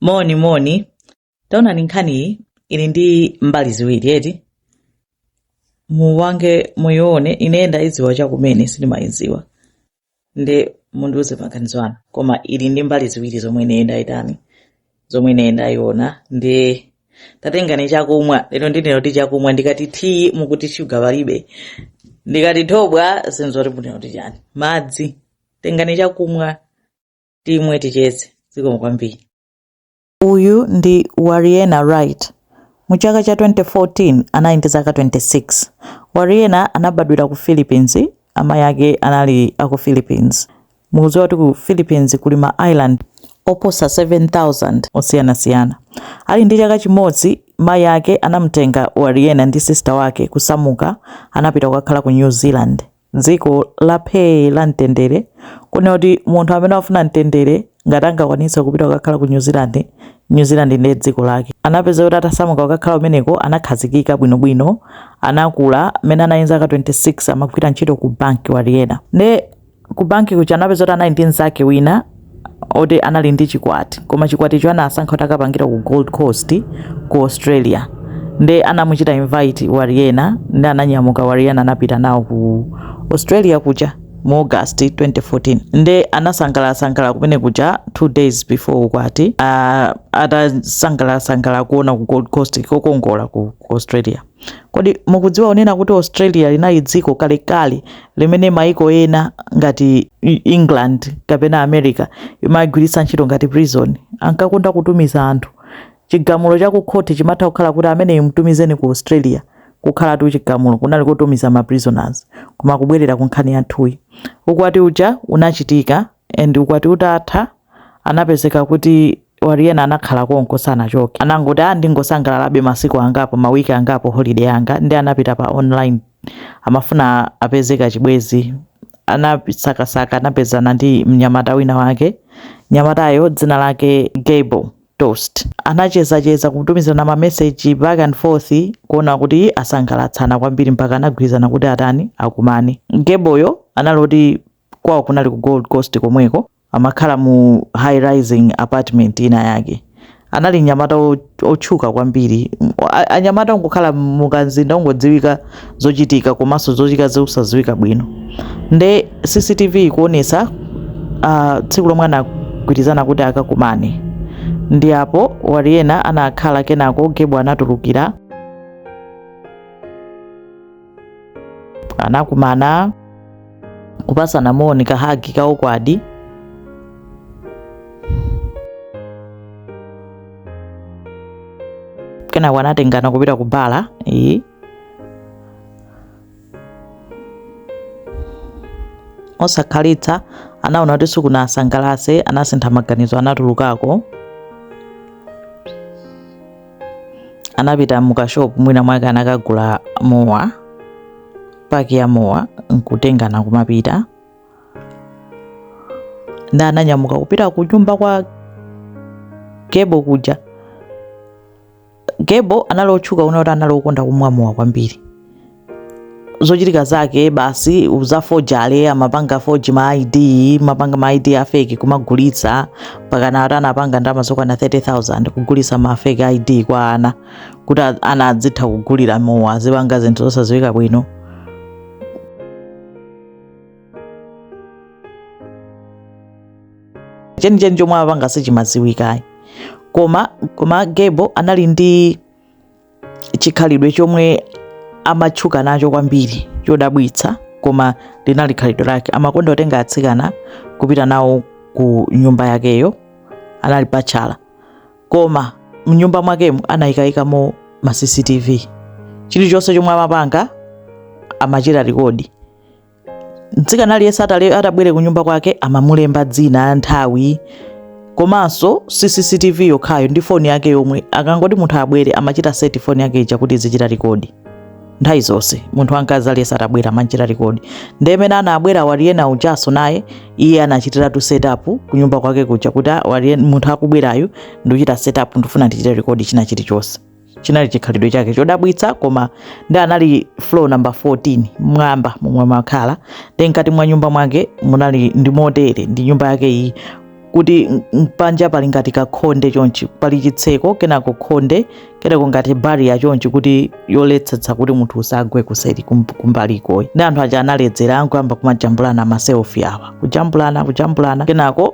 moni moni taonani nkhaniyi ili ndi mbali ziwiri eti muwange muyione ine ndayidziwa chakumene sindimayidziwa nde mundiuze maganizo anu koma ili ndi mbali ziwiri zomwe ine ndayitani zomwe ine ndayiona ndi tatengani chakumwa lero ndine kuti chakumwa ndikati tiyi mukuti shuga palibe ndikati thobwa sizoti munena kuti chani madzi tengani chakumwa timwe ticheze zikomo kwambiri uyu ndi warriena wright mu chaka cha 2014 anali ndi zaka 26 warriena anabadwira ku philippines amayi ake anali aku philippines mukudziwa kuti ku philippines kuli ma island oposa 7000 osiyanasiyana ali ndi chaka chimodzi mayi ake anamtenga warriena ndi sista wake kusamuka anapita kukakhala ku new zealand m'dziko la phee la mtendere, kunena kuti munthu amene amafuna mtendere ngati angakwanitse kupita kukakhala ku New Zealand, New Zealand ndiye dziko lake. Anapezeka kuti atasamuka kukakhala kumeneko anakhazikika bwinobwino, anakula. Mmene anali ndi zaka 26 amagwira ntchito ku banki, Warriena. Ndiye ku banki kuja anapezeka kuti anali ndi mnzake wina. oti anali ndi chikwati koma chikwaticho anasankha kuti akapangire ku Gold Coast ku Australia nde anamuchita invite Warriena nde ananyamuka Warriena anapita nawo ku Australia kuja mu August 2014 nde anasangalasangala kumene kuja two days before ukwati uh, atasangalasangala kuona ku Gold Coast kokongola ku, ku Australia Kodi mukudziwa kunena kuti Australia linali dziko kalekale limene maiko ena ngati England kapena America imagwiritsa ntchito ngati prison? Ankakonda kutumiza anthu. Chigamulo cha ku court chimatha kukhala kuti ameneyu mtumizeni ku Australia. Kukhalatu chigamulo kunali kotumiza ma prisoners. Koma kubwerera ku nkhani yathuyi. Ukwati uja unachitika and ukwati utatha anapezeka kuti Warriena anakhala konko sanachoke anangoti ah ndingosangalalabe masiku angapo ma week angapo holiday yanga nde anapita pa online amafuna apeze kachibwenzi anasakasaka anapezana ndi mnyamata wina wake mnyamatayo dzina lake Gable Tostee anachezacheza kutumizana mameseji back and forth kuona kuti asangalatsana kwambiri mpaka anagwirizana kuti atani akumane Gableyo anali kuti kwawo kunali ku gold coast komweko amakhala mu high rising apartment ina yake anali mnyamata wo- wotchuka kwambiri M- a- anyamata ongokhala mukamzinda ongodziwika zochitika komanso zochitika zosadziwika bwino nde cctv ikuonesa ah, tsiku lomwe anagwirizana kuti akakumane ndi apo warriena anakhala kenako gable anatulukira anakumana kupasana moni kahagi ka ukwadi kenako anatengana kupita ku bala iyi osakhalitsa anaona kuti sikunaasangalase anasintha maganizo anatulukako anapita mukashop mwina mwake anakagula mowa paki ya mowa nkutengana kumapita nda ananyamuka kupita ku nyumba kwa gebo kuja gebo anali otchuka unaona kuti anali okonda kumwa mowa kwambiri zochitika zake basi uzafojale amapanga foji ma id amapanga ma id a fake kumagulitsa pakana akuti anapanga ndalama zokwana 30000 kugulitsa ma fake id kwa ana kuti a- ana adzitha kugulira mowa azipanga zinthu zosadziwika bwino chenicheni chomwe amapanga sichimadziwika ayi koma koma gebo anali ndi chikhalidwe chomwe amatchuka nacho kwambiri chodabwitsa koma linali khalidwe lake amakonda kutenga atsikana kupita nawo ku nyumba yakeyo anali patchala koma mnyumba mwakemo anayikayikamo ma cctv chilichonse chomwe amapanga amachita rekodi mtsikana aliyense atabwe- atabwere ku nyumba kwake amamulemba dzina nthawi komanso si cctv yokhayo ndi foni yake yomwe akangoti munthu abwere amachita seti foni yake ija kuti izichita rekodi nthawi zonse munthu wamkazi aliyense atabwera amachita rekodi nde mmene anabwera wariyena ujaso naye iye anachitiratu setup kunyumba kwake kuja kuti "Ah, wariye- munthu akubwerayu ndikuchita setup ndifuna ndichite rekodi china chilichonse chinali chikhalidwe chake chodabwitsa koma ndi anali floor number 14 mwamba momwe amakhala nde mkati mwa nyumba mwake munali ndi motere ndi nyumba yake iyi kuti panja pali ngati kakhonde chonchi pali chitseko kenako khonde kenako ngati bariya chonchi kuti yoletsetsa kuti munthu usagwe kuseri kumbaliko uyu nde anthu aja analedzera nkuyamba kumajambulana maselfi awa kujambulana kujambulana kenako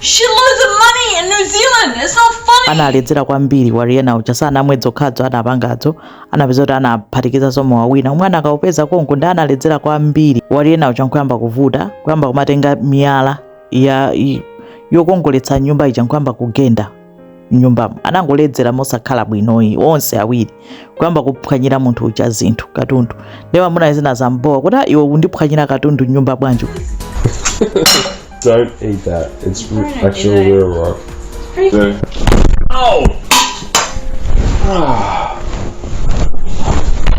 shitloads of money in New Zealand. It's not funny. analedzera kwambiri wariyena uja sanamwe dzokhadzo anapangadzo anapeza kuti anaphatikizanso mowa wina omwe anakaupeza konko nde analedzera kwambiri wariyena uja nkuyamba kuvuta kuyamba kumatenga miyala ya i- yokongoletsa mnyumba ija nkuyamba kugenda mnyumbamo anangoledzera mosakhala bwinoyi onse awiri kuyamba kuphwanyira munthu uja zinthu katundu nde mamunayo zinamubowa kuti "Ah, iwe undiphwanyira katundu mnyumba bwanji Don't eat that. It's r- actually real rock. Yeah. Oh!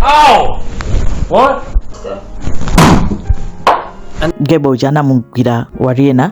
Ow! What? gebo uja anamugwira Warriena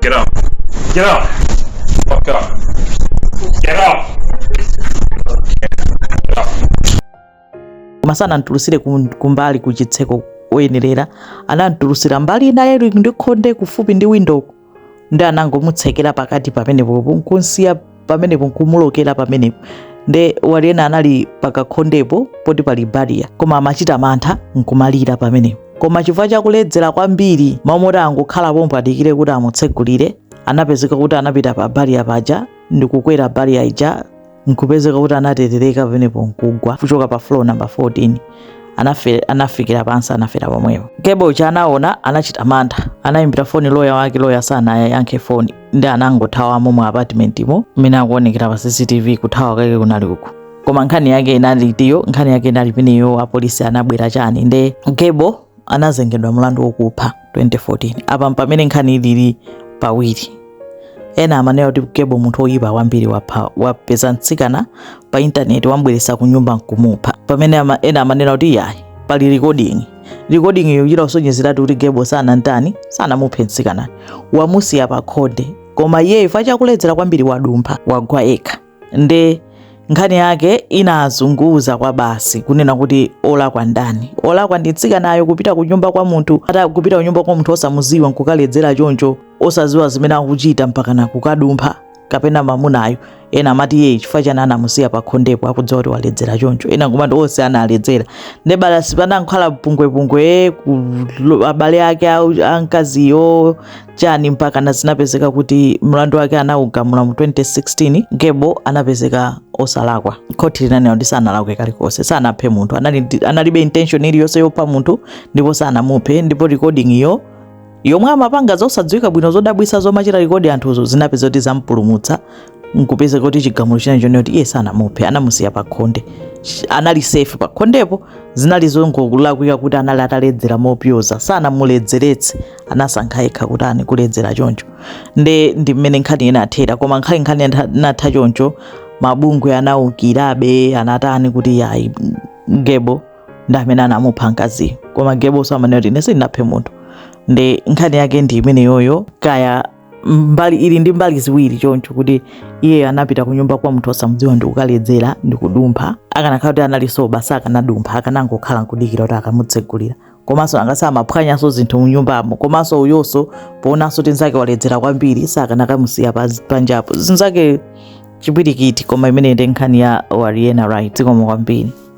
Get up. Get up. Fuck up. Get up. Get up. koma sanamtulutsire kum- kumbali ku chitseko oyenerera anamtulutsira mbali inayi ili ndi khonde kufupi ndi windoko nde anangomutsekera pakati pamenepopo nkumsiya pamenepo nkumulokera pamenepo nde Warriena anali pakakhondepo poti pali bariya koma amachita mantha nkumalira pamenepo koma chifukwa chakuledzera kwambiri mmalo moti angokhala pompo adikire kuti amutsegulire anapezeka kuti anapita pa bariya paja ndikukwera bariya ija nkupezeka kuti anaterereka pamenepo nkugwa kuchoka pa floor number 14 anafe, anafikira pansi anafera pomwepo gebo uja anaona anachita mantha anayimbira foni loya wake loya sanayankhe foni nde anangothawamo mu apartmentimo mmene akuonekera pa cctv kuthawa kake kunali uku koma nkhani yake inali iyo nkhani yake inali imeneyo apolisi anabwera chani nde gebo anazengedwa mlandu wokupha 2014 apa mpamene nkhani inali pawiri ena amanena kuti gebo munthu oyipa kwambiri wapha wapeza mtsikana pa intaneti wambweresa ku nyumba nkumupha pamene ama, ena amanena kuti yayi pali recording recording iyo ikusonyezeratu kuti gebo sanantani sanamuphe mtsikanayo wamusiya pa khonde koma iyeyo chifukwa chakuledzera kwambiri wadumpha wagwa yekha nde nkhani yake inazunguza kwabasi kunena kuti olakwa ndani olakwa ndi mtsikanayo kupita kunyumba kwa munthu ata kupita kunyumba kwa munthu osamuziwa nkukaledzera choncho osaziwa zimene akuchita mpakana kukadumpha kapena mamunayo ena amati iye chifukwa chani anamusiya pa khondepo akudziwa kuti waledzera choncho ena nkumati onse analedzera nde balasi panakhala pungwepungwe abale ake amkaziyo chani mpakana zinapezeka kuti mlandu wake anaugamula mu 2016 gebo anapezeka osalakwa khoti linanena kuti sanalakwe kalikonse sanaphe munthu analibe intention iliyonse yopha munthu ndipo sanamuphe ndipo recording iyo yomwe amapanga zosadziwika bwino zodabwisa zomachita rekodi anthuzo zinapezeka kuti zampulumutsa nkupezeka kuti chigamulo chinachokano kuti iye sanamuphe anamusiya pakhonde anali safe pakhondepo zinali zongolakwika kuti anali ataledzera mopyoza sanamuledzeretse anasankha yekha kuti amwe kuledzera choncho nde ndi mmene nkhani inathera koma nkhani nkhani inatha choncho mabungwe anaukirabe anatani kuti yayi gebo ndi amene anamupha mkaziyo koma gebo samanena kuti ine sindinaphe munthu nde nkhani yake ndi imeneyoyo kaya mbali ili ndi mbali ziwiri choncho kuti iye anapita ku nyumba kwa munthu osamudziwa ndi kukaledzera ndi kudumpha akanakhala kuti anali soba sakanadumpha akanangokhala nkudikira kuti akamutsegulira komanso angasi amaphwanyanso zinthu munyumbamo komanso uyonso poonanso kuti nzake waledzera kwambiri sakanakamusiya pa- panjapo zinzake chipwirikiti koma imeneyo nde nkhani ya warriena wright zikomo kwambiri